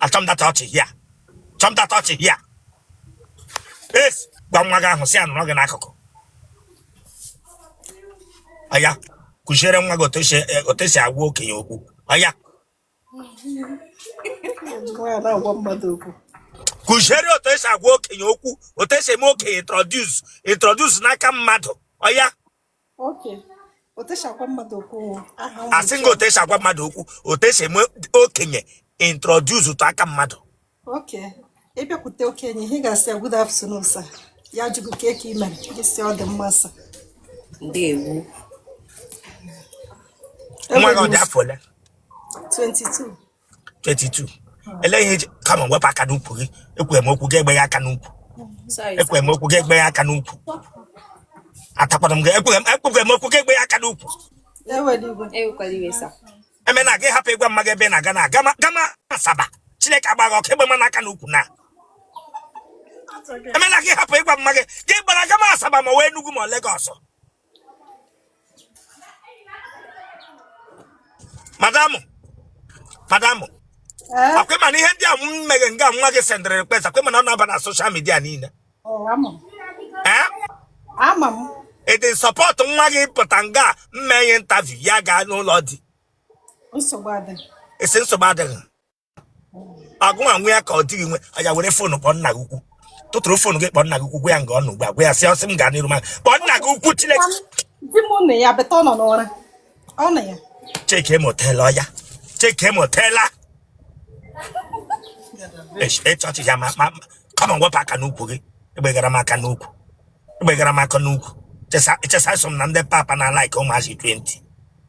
achọm data ọchị hia chọm data ọchị hia yes gwa nwa gị ahụ sị ya nọrọ gị n'akụkụ ọya kụziere nwa gị otu esi agwa okenye okwu ọya kụziere otu esi agwa okenye okwu otu esi eme okenye introduce introduce n'aka mmadụ ọya asị nga otu esi agwa mmadụ okwu otu esi eme okenye introduce ụtọ aka mmadụ ị bịakwute okenye ihe ị ga-asị ya good afternoon sir ya jụọ gị kee ka i mere gị sị ọ dị mma sir ndewo nwa gị ọ dị afọ ole 22 22 elee ihe eji come on wepụ aka n'ukwu gị ekwere m okwu gị egbe ya aka n'ukwu ekwere m okwu gị egbe ya aka n'ukwu atakwara m gị ekwere m ekwere m okwu gị egbe ya aka n'ukwu eme na gị hapụ ịgwa mma gị ebe ị na-aga na gama Asaba Chineke agba gị ọkụ egbe mana aka n'ukwu na eme na gị hapụ ịgwa mma gị gị gbara gama Asaba ma ọ wụ Enugu ma Lagos madam madam eh? ọ kwa ị ma na ihe ndị a m meghe nga nwa gị sendịrị request ọ kwa ị ma na ọ na-aba na social media niile oh, eh? ama m ị dị support nwa gị pụta nga m mee ya interview ya gaa n'ụlọ di esi nsogbu adịghị ọ gị nwa nwe ya ka ọ di gị nwe ọya were phone kpọọ nna gị ukwu tụtụrụ phone gị kpọọ nna gị ukwu gwa ya nga ọ nọ ugbu a gwa ya sị ọ sị m gaa n'iru ma kpọọ nna gị ukwu chineke di m nne ya beta ọ nọ n'ụra ọ nọ ya check ma o tela ọya check ma o tela ịchọchị ya ma ma come on wepụ aka n'ukwu gị egbegara m aka n'ukwu egbegara m aka n'ukwu chesa chesa so m na ndị papa na like ụmụazị 20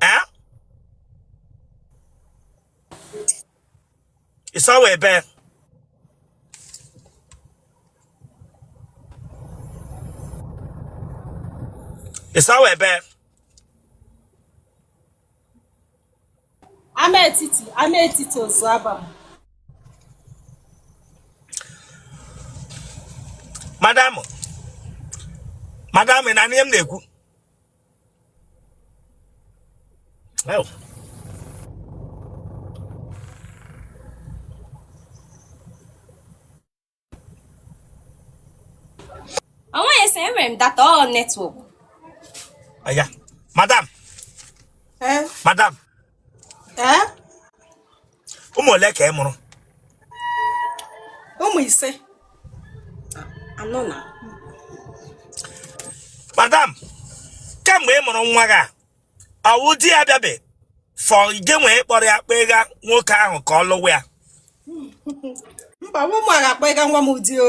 eh? ị sị ọ wụ ebee ị sị ọ wụ ebee Amaetiti Amaetiti Ozu Abam madam madam ị na-anụ ihe m na-ekwu Ew. Onwe ese enwere m data ọ network. Aya, madam. Eh? Madam. Eh? ụmụ ole ka ị mụrụ ụmụ ise anọ na madam kemgbe ị mụrụ nwa gị a ọ wụ di ya bịa before gị ewee kpọrọ ya kpega nwoke ahụ ka ọ lụwa ya mba nwa m agha akpa ịga nwa m ụdị o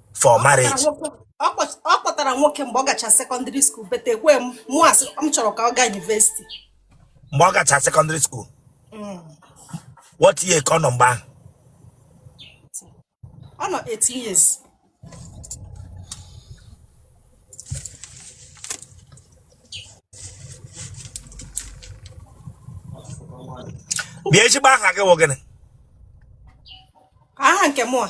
for marriage ọ kpọtara nwoke mgbe ọ gacha secondary school but ekwe m mụ asị m chọrọ ka ọ gaa university mgbe ọ gacha secondary school mm. what year ka ọ nọ mgbe ahụ ọ nọ 18 years bịa ezigbo aha gị wụ gịnị aha nke mụ a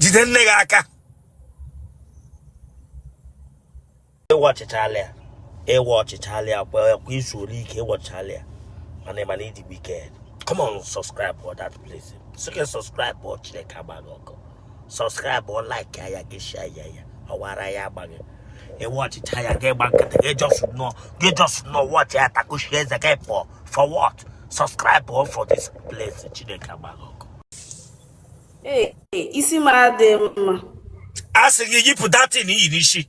jide nne gị aka ị watchịchala ya ị watchịchala ya kwa izu ole ike ị watchịchala ya mana ị ma na ị dị wicked come on subscribe for that place so can subscribe for chineke agba gị ọkụ subscribe like ya gị share ya ya ọwara ya agba gị ị watchịcha ya gị gba nkịtị gị just nọ gị just nọ watchị ya takushi eze gị pọ for what subscribe for this place chineke agba gị ọkụ isi m adị mma a sị gị yipụ that thing i yi n'isi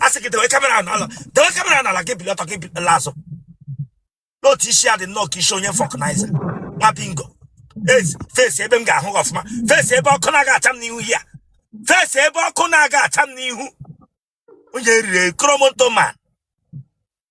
a sị gị dewe camera n'ala dewe camera n'ala gị bili ọtọ gị bili laa azụ n'otu isi ya dị nnọọ ka isi onye vulcanizer nwa bingo Ezi, face ebe m ga-ahụ gị ọfụma face ebe ọkụ na-aga acha m n'ihu ya face ebe ọkụ na-aga acha m n'ihu onye riri kromonto man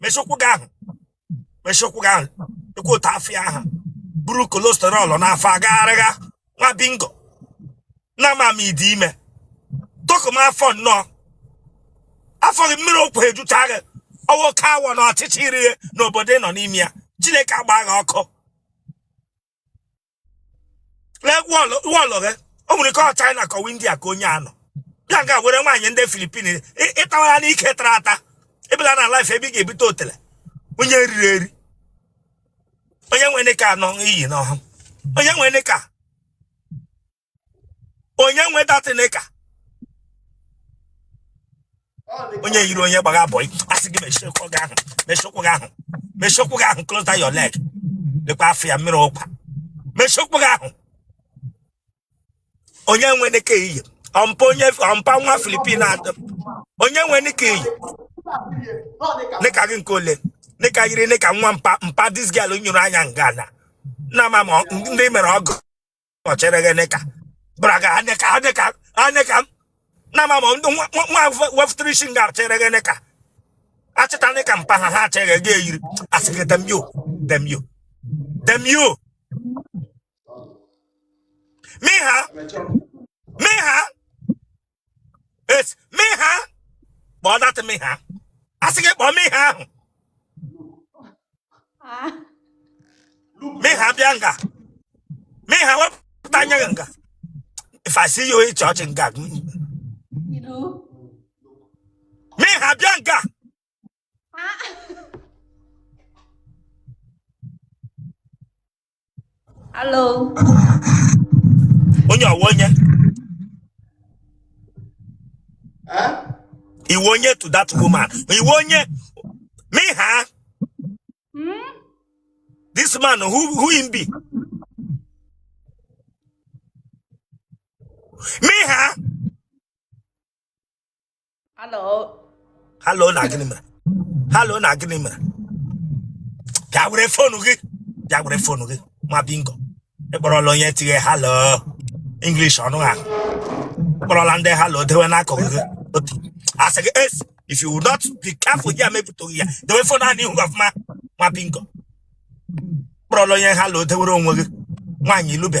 mechie ụkwụ gị ahụ mechie ụkwụ gị ahụ lekwa otu afọ ya ha buru cholesterol n'afọ agagharịgha nwa bingo na ama m ị dị ime dọkụ m afọ nnọọ afọ gị mmiri ụkwa ejucha gị ọ wụ oke awọ na ọchịcha i ri n'obodo ị nọ n'ime ya chineke agba gị ọkụ lee wọlụ wọlụ gị o nwere ike ọ china ka ọ wụ india ka onye a nọ ya nga were nwaanyị ndị philippines ị- ịtawa ya n'ike tara ata ị bịala na live ebe ị ga-ebute otele onye riri eri onye nwe knicker anọ i yi n'ọha onye nwe knicker onye nwe that knicker onye yiri onye gbagha boy a sị gị mechie ụkwụ gị ahụ mechie ụkwụ gị ahụ mechie ụkwụ gị ahụ close down your leg lekwa afọ ya mmiri ụkwa mechie ụkwụ gị ahụ onye nwe knicker i yi ọ mpa onye ọ mpa nwa philippine atọ onye nwe knicker i yi knicker gị nke ole knicker yiri knicker nwa mpa mpa this girl nyoro anya nga na nna ma ma ndị mere ọgwụ ọchere gị nịka bụra gị anịka anịka anịka m na ma ma ndị nwa nwa- nwa wefụtara isi nga chere gị nịka achịta nịka mpa ha ha achịghị gị eyiri asị gị damn you damn you damn you mi ha mi ha It's me ha. Kpọọ that me ha. Asị gị kpọọ me ha ahụ. Ah. Me ha bịa nga. Me ha wepụta anya gị nga. If I see you in church nga. You know. Me ha bịa nga. Ah. Hello. Onye ọ wụ onye? Ị wụ onye to that woman. Ị wụ onye me ha. Hmm? This man who him be? Me ha. Hello. Hello na gịnị mere? Hello na gịnị mere? Bịa were fonu gị. Bịa were fonu gị. Nwa bingo. Ị kpọrọla onye tighe hello. English ọnụ ahụ. Ị kpọrọla ndị hello dewe n'akụkụ gị. Otu. Asị gị es. If you will not be careful here, maybe to here. Dewe fonu ahụ n'ihu gị ọfụma. Nwa bingo. Ị kpọrọla onye hello dewere onwe gị. Nwaanyị ilube.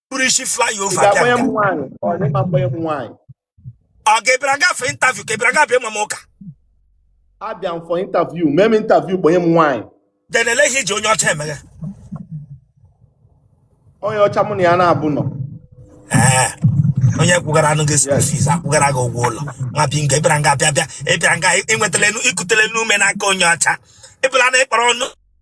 buru isi flyover bịa ga-akpọnye m nga nwaanyị ọ na ịma mkpọnye m nwaanyị ọ ga-ebịara ga for interview ka ebịara gafe ịma m ụka abịa m for interview mee m interview kpọnye m nwaanyị then ele ihe iji onye ọcha emeghe onye ọcha mụ na ya na-abụọ nọ ee onye kwụgara anụ gị school fees akwụgara gị ụgwọ ụlọ nwa bingo ịbịara nga bịa bịa ịbịara nga ịnwetala enu ikutela enu ume n'aka onye ọcha ịbụla na ịkpọrọ ọnụ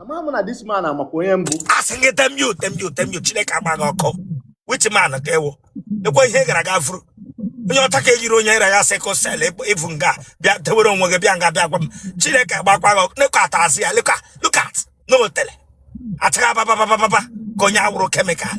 ama m na this man amakwa onye m bụ asị gị damn you damn you damn you chineke agba gị ọkụ which man ka ị wụ ekwe ihe ị gara ga vuru onye ọcha ka ejiri onye ira ya sickle cell ịbụ nga bịa tewere onwe gị bịa nga bịa gwa m chineke agbakwa gị ọkụ lekọ atazị ya lekọ look at n'otele achagha bababababa ka onye awụrụ kemikal